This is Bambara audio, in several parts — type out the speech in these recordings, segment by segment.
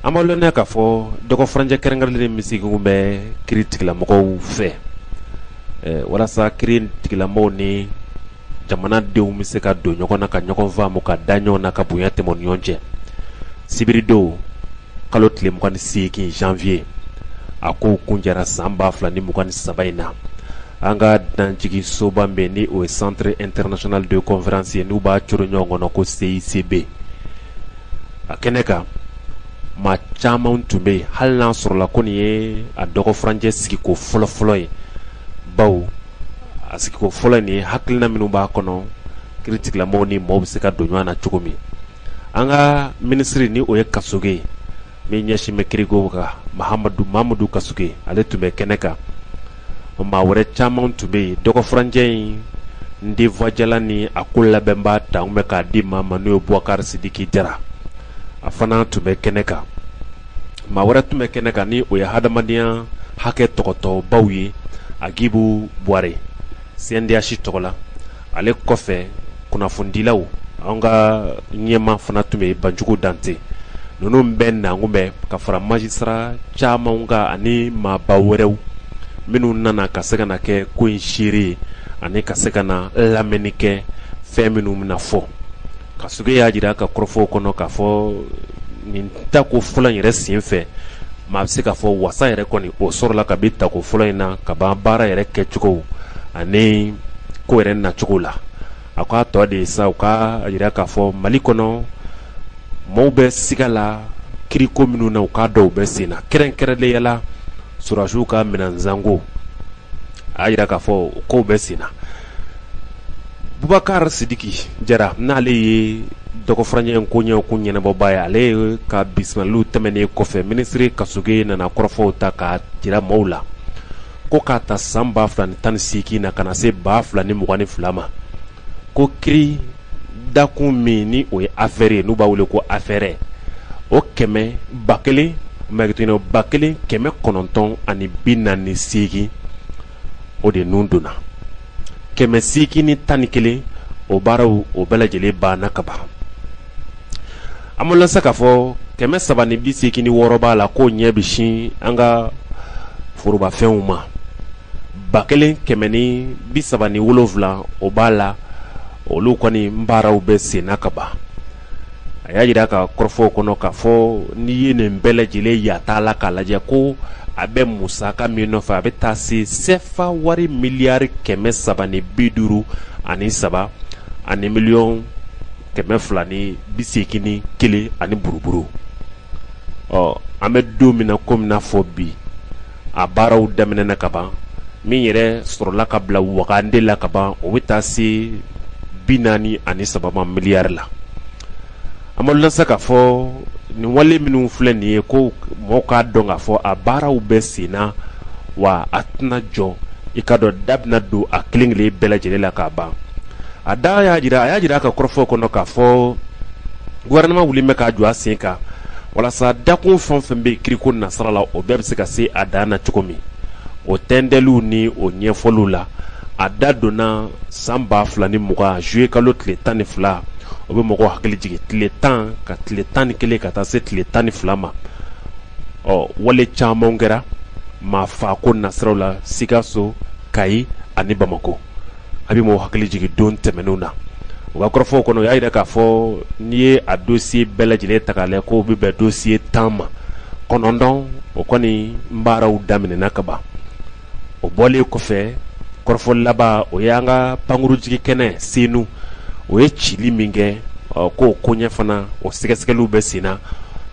an b'a lɔnniya k'a fɔ dɔgɔfurancɛ kɛrɛnkɛrɛnlen min sigilen bɛ kiritigɛlamɔgɔw fɛ eh, walasa kiritigɛlamɔgɔw ni jamanadenw bɛ se ka don ɲɔgɔn na ka ɲɔgɔn faamu ka da ɲɔgɔn na ka bonya tɛmɛ ni ɲɔgɔn cɛ sibiridon kalo tile mugan ni seegin janvier a kow kuncɛra san ba fila ni mugan ni saba in na an ka dunanjigisoba min bɛ ni o ye centre international de conférence ye n'u b'a coron ɲɔgɔn kɔnɔ ko CICB a kɛnɛ nin kan maa caman tun bɛ yen hali n'a sɔrɔla ko nin ye a dɔgɔfurancɛ sigiko fɔlɔfɔlɔ ye bawo a sigiko fɔlɔ nin ye hakilina minnu b'a kɔnɔ kiritigɛlamɔgɔ ni maaw bɛ se ka don ɲɔgɔn na cogo min an ka minisiri ni o ye kasoge ye min ɲɛsinnen bɛ kiriko kan mahamadu mamadu kasoge ale tun bɛ kɛnɛ kan o maa wɛrɛ caman tun bɛ yen dɔgɔfurancɛ in denfajalan ni a ko labɛnbaa ta bɛ k'a di maa ma n'o ye bubakari sidiki jara a fana tun bɛ kɛnɛ kan maa wɛrɛ tun bɛ kɛnɛ kan ni o ye hadamadenya hakɛ tɔpɔtɔbaw ye agibu buwarɛ CNDH tɔgɔ la ale kɔfɛ kunnafonidilaw an ka ɲɛmaa fana tun bɛ banjugu dante ninnu bɛɛ nalen tun bɛ ka fara magistrat caman kan ani maaba wɛrɛw minnu nana ka se ka na kɛ ko in seere ye ani ka se ka na lamɛnni kɛ fɛn minnu bɛna fɔ kasoge y'a jira a ka kɔrɔfɔw kɔnɔ k'a fɔ nin tako fɔlɔ yɛrɛ sen fɛ maa bɛ se k'a fɔ wasa yɛrɛ kɔni o sɔrɔla kabi tako fɔlɔ in na ka ban baara yɛrɛ kɛcogo ani ko yɛrɛ nacogo la a k'a tɔ de sa u k'a jira k'a fɔ mali kɔnɔ maaw bɛ siga la kiriko minnu na u k'a dɔw bɛ senna kɛrɛnkɛrɛnnenya la sɔrɔdasiw ka minɛnsanko a y'a jira k'a fɔ o kow bɛ senna bubakari sidiki jara n'ale ye dɔgɔfurancɛ koɲɛ ko ɲɛnabɔbaa ye ale yɛrɛ ka bisimilaw tɛmɛnen kɔfɛ minisiri kasoge nana kɔrɔfɔw ta k'a jira maaw la ko k'a ta san ba fila ni tan ni seegin na ka na se ba fila ni mugan ni fila ma ko ki dakun min ni o ye affaire ye n'u b'a wele ko affaire o kɛmɛ ba kelen ba kelen kɛmɛ kɔnɔntɔn ani bi naani ni seegin o de ninnu donna kɛmɛ seegin ni tan ni kelen o baaraw o bɛɛ lajɛlen banna ka ban an b'o lasa k'a fɔ kɛmɛ saba ni bi seegin ni wɔɔrɔ b'a la k'o ɲɛ bɛ sin an ka forobafɛnw ma ba kelen kɛmɛ ni bi saba ni wolonwula o b'a la olu kɔni baaraw bɛ senna kaban a y'a jira a ka kɔrɔfɔw kɔnɔ k'a fɔ n'i ye nin bɛɛ lajɛlen yata la k'a lajɛ ko a bɛ musaka min nɔfɛ a bɛ taa se sɛfa wari miliyari kɛmɛ saba ni bi duuru ani saba ani miliyɔn kɛmɛ fila ni bi seegin ni kelen ani buruburu ɔ an bɛ don min na komi i n'a fɔ bi a baaraw daminɛna kaban min yɛrɛ sɔrɔla ka bila wagande la kaban o bɛ taa se bi naani ani saba ma miliyari la amadulasa k'a fɔ nin wale minnu filɛ nin ye ko mɔgɔw k'a dɔn k'a fɔ a baaraw bɛ sen na wa a tɛna jɔ i k'a dɔn da bɛna don a kelen kelen bɛɛ lajɛlen la k'a ban a da y'a jira a y'a jira a ka kɔrɔfɔ kɔnɔ k'a fɔ gouvernement wulilen bɛ k'a jɔ a sen kan walasa dakun fɛn o fɛn bɛ kiriko nasira la o bɛɛ bɛ se ka se a dan na cogo min o tɛntɛliw ni o ɲɛfɔliw la a da donna san ba fila ni mugan juye kalo tile tan ni fila o bɛ mɔgɔw hakili jigin tile tan ka tile tan ni kelen ka taa se tile tan ni fila ma ɔ wale caman kɛra maafaako nasiraw la sikaso kayi ani bamakɔ a bɛ maaw hakili jigin don tɛmɛnenw na u ka kɔrɔfɔw kɔnɔ u y'a jira k'a fɔ n'i ye a dosiye bɛɛ lajɛlen ta k'a lajɛ k'o bɛ bɛn dosiye tan ma kɔnɔntɔn o kɔni baaraw daminɛna kaban o bɔlen kɔfɛ kɔrɔfɔ laban o ye an ka pankurun jigi kɛnɛ senu u ye cili min kɛ k'o koɲɛ fana o sɛgɛsɛgɛliw bɛ sen na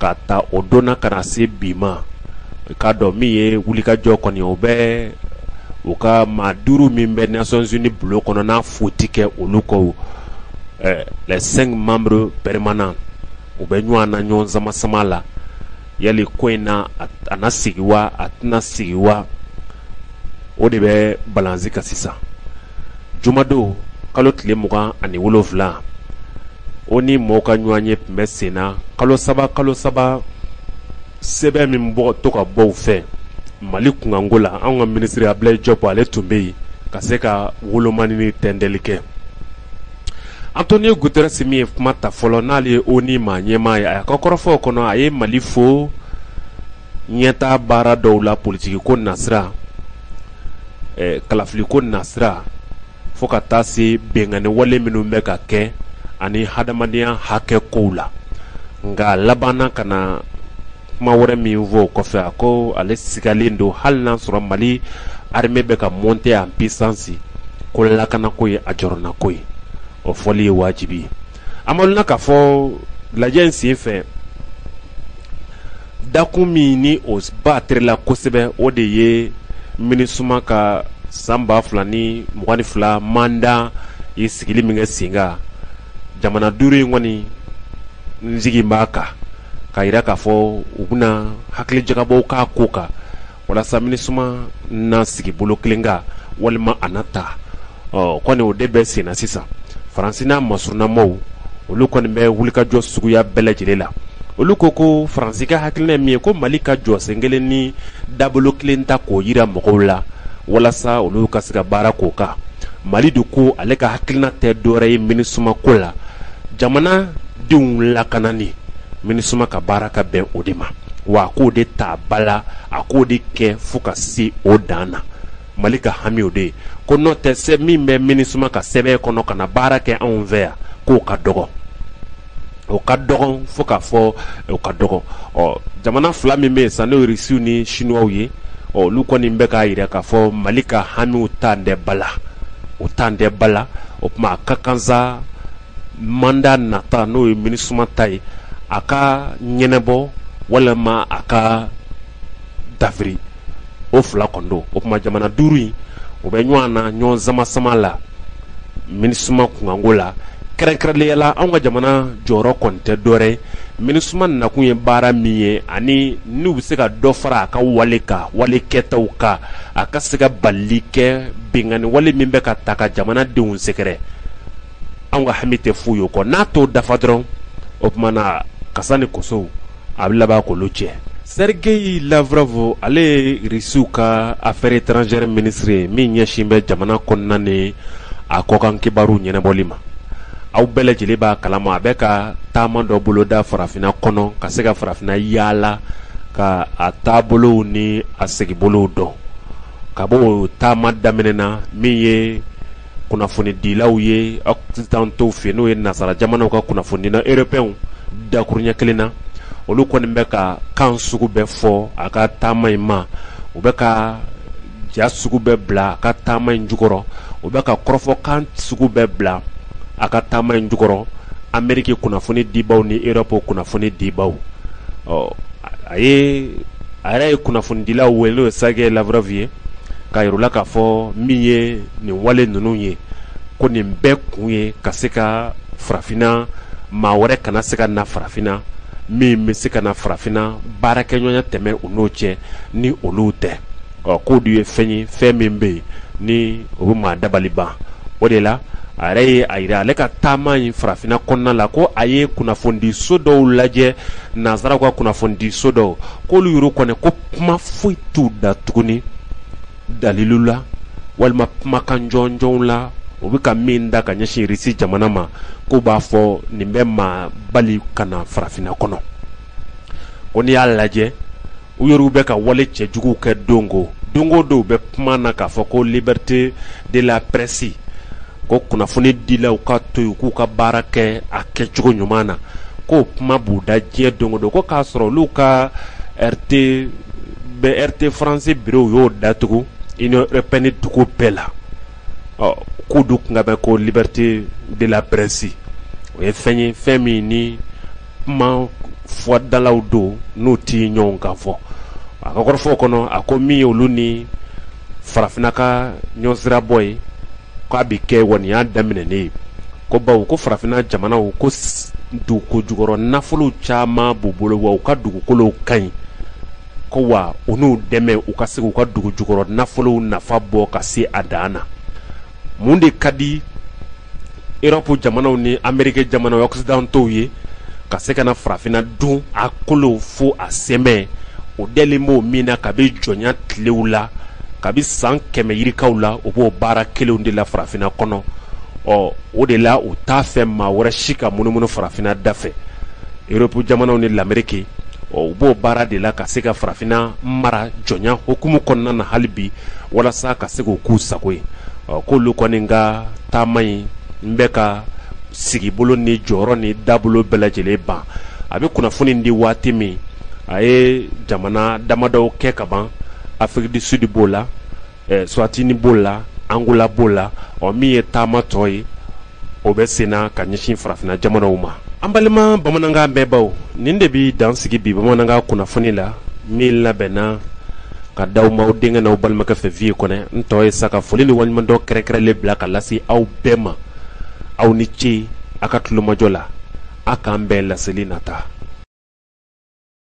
k'a ta o don na ka na se bi ma k'a dɔn min ye wulikajɔ kɔni ye o bɛ u ka maa duuru min bɛ nations unies bulon kɔnɔ n'a foyi tɛ kɛ olu kɔ eh, les cinq membres permanents u bɛ ɲɔgɔn na ɲɔgɔn sama sama la yali ko in na a na sigi wa a tɛna sigi wa o de bɛ balansi kan sisan jumadon kalo tile mugan ani wolofila onu mɔgɔw ka ɲɔgɔnye tun bɛ sen na kalo saba kalo saba sɛbɛn min bɛ to ka bɔ u fɛ mali kunkanko la an ka minisiri abdoulaye diop ale tun bɛ yen ka se ka wolomani ni tɛntɛli kɛ antonio guterres min ye kuma ta fɔlɔ n'ale ye onu maa ɲɛmaa ye a ka kɔrɔfɔw kɔnɔ a ye mali fo ɲɛtaa baara dɔw la politikiko nasira kalafiliko nasira fo ka taa se binkanni wale minnu bɛ ka kɛ ani hadamadenya hakɛ ko la nka a labanna ka na kuma wɛrɛ min fɔ kɔfɛ a ko ale sigalen don hali n'a sɔrɔ mali armée bɛ ka monter en puissance ko lakanako ye a jɔrɔnanko ye o fɔli ye wajibi ye an b'a dɔn k'a fɔ lajɛ in sen fɛ dakun min ni o ba terila kosɛbɛ o de ye minisuma ka san ba fila ni mugan ni fila manda ye sigili min kɛ sen kan jamana duuru in kɔni n sigi b'a kan k'a jira k'a fɔ u bɛna hakilijagabɔ k'a ko kan walasa minisuma na sigi bolo kelen kan walima a na taa ɔ kɔni o de bɛ senna sisan faransi n'a masurunnamɔɔw olu kɔni bɛ wulikajɔ suguya bɛɛ lajɛlen la olu ko ko faransi ka hakilina ye min ye ko mali ka jɔ sen kelen ni dabolo kelen ta k'o yira mɔgɔw la walasa olu ka se ka baara k'o kan mali de ko ale ka hakilina tɛ dɔwɛrɛ ye minisuma ko la jamana denw lakanani minisuma ka baara ka bɛn o de ma wa a k'o de ta ba la a k'o de kɛ fo ka se o dan na mali ka hamiw de ye ko n'o tɛ se min bɛ minisuma ka sɛbɛn kɔnɔ ka na baara kɛ anw fɛ yan k'o ka dɔgɔ o ka dɔgɔn fo k'a fɔ o ka dɔgɔ ɔ jamana fila min bɛ yen sa n'o ye irisiw ni sinuwaw ye ɔ olu kɔni bɛ k'a jira k'a fɔ mali ka hamiw tan tɛ ba la o tan tɛ ba la o tuma a ka kan sa manda nata n'o ye minisuma ta ye a ka ɲɛnabɔ walima a ka dafiri o fila kɔnɔ o tuma jamana duuru in o bɛ ɲɔgɔn na ɲɔgɔn sama sama la minisuma kunkanko la kɛrɛnkɛrɛnlenya la anw ka jamana jɔyɔrɔ kɔni tɛ dɔɛrɛ minisuma nakun ye baara min ye ani n'u bɛ se ka dɔ fara a ka wale ka wale kɛtaw kan a ka se ka balili kɛ binkanni wale min bɛ ka taa ka jamanadenw sɛgɛrɛ anw ka hami tɛ foyi ye o kɔ n'a t'o dafa dɔrɔn o tuma na kasa ni kosow a bɛ laban k'olu cɛ sergeyi lavrov ale ye irisiw ka affaire étrangère ministre ye min ɲɛsin bɛ jamana kɔnɔna ni a kɔkan kibaruw ɲɛnabɔli ma aw bɛɛ lajɛlen b'a kalama a bɛ ka taama dɔ boloda farafinna kɔnɔ ka se ka farafinna yaala ka a taabolow ni a segibolow dɔn ka bɔ taama daminɛna min ye kunnafonidilaw ye occidentaux fɛ n'o ye nasara jamanaw ka kunnafonidila erɔpeyɛnw dakurunɲɛ kelen na olu kɔni bɛ ka kan sugu bɛɛ fɔ a ka taama in ma u bɛ ka ja sugu bɛɛ bila a ka taama in jukɔrɔ u bɛ ka kɔrɔfɔ kan sugu bɛɛ bila a ka taama in jukɔrɔ ameriki kunnafonidibaw ni erɔpu kunnafonidibaw ɔ a ye a yɛrɛ ye kunnafonidilaw wele n'o ye Sergeyi Lavrov ye k'a yir'u la k'a fɔ min ye nin wale ninnu ye ko nin bɛɛ kun ye ka se ka farafinna maa wɛrɛ kana se ka na farafinna min bɛ se ka na farafinna baarakɛɲɔgɔnya tɛmɛn u n'o cɛ ni olu tɛ ɔ k'o dun ye fɛn ye fɛn min bɛ yen ni o bɛ maa dabali ban o de la a yɛrɛ ye a jira ale ka taama in farafinna kɔnɔna la ko a ye kunnafonidiso dɔw lajɛ nansaraw ka kunnafonidiso dɔw k'olu yɔrɔ kɔnɔ ko kuma foyi t'u da tuguni dalilu la walima kumakan jɔnjɔnw la u bɛ ka min da ka ɲɛsin irisi jamana ma k'u b'a fɔ nin bɛ maa bali ka na farafinna kɔnɔ ko n'i y'a lajɛ u yɛrɛw bɛ ka wale cɛjuguw kɛ don o don o dɔw bɛ kuma na k'a fɔ ko liberté de la presse ko kunnafonidilaw ka to yen k'u ka baara kɛ a kɛcogo ɲuman na k'o kuma b'u da diɲɛ don o don ko k'a sɔrɔ olu ka RT RT france biro u y'o datugu union européenne dugu bɛɛ la ɔ k'u dun tun bɛ ko liberté de la presse o ye fɛn ye fɛn min ni kuma fɔdalaw don n'u tɛ ɲɔgɔn kan fɔ a ka kɔrɔfɔ kɔnɔ a ko min ye olu ni farafinna ka ɲɔn sirabɔ ye k'a bɛ kɛ waya daminɛnen ye ko bawo ko farafinna jamanaw ko dugukolo jukɔrɔ nafolo caman b'u bolo wa u ka dugukolo ka ɲi ko wa u n'u dɛmɛ u ka se u ka dugu jukɔrɔ nafolo nafa bɔ ka se a dan na mun de ka di erɔpu jamanaw ni amerike jamana occidentaux ye ka se ka na farafinna dun a kolo fo a sɛmɛ u delilen b'o min na kabi jɔnya tilew la kabi san kɛmɛ yirikaw la u b'o baara kelenw de la farafinna kɔnɔ ɔ o de la u t'a fɛ maa wɛrɛ si ka munumunu farafinna da fɛ erɔpu jamanaw ni lamerike ɔ u b'o baara de la ka se ka farafinna mara jɔnya hukumu kɔnɔna na hali bi walasa ka se k' k'u sago ye k'olu kɔni ka taama in n bɛ ka sigibolo ni jɔyɔrɔ ni dabolo bɛɛ lajɛlen ban a bɛ kunnafoni di waati min a ye jamana damadɔw kɛ ka ban afrique du sud b'o la suwatini b'o la angola b'o la ɔ min ye taama tɔ ye o bɛ senna ka ɲɛsin farafinna jamanaw ma an balima bamanankan mɛnbaw nin de bɛ dan sigi bi bamanankan kunnafoni la min labɛnna ka d'aw ma aw denkɛ n'aw balimakɛ fɛ viye kɔnɛ n tɔgɔ ye sa ka foli ni waleɲumandɔn kɛrɛnkɛrɛnlen bila ka lase aw bɛɛ ma aw ni ce aw ka tulomajɔ la aw k'an bɛn laseli nata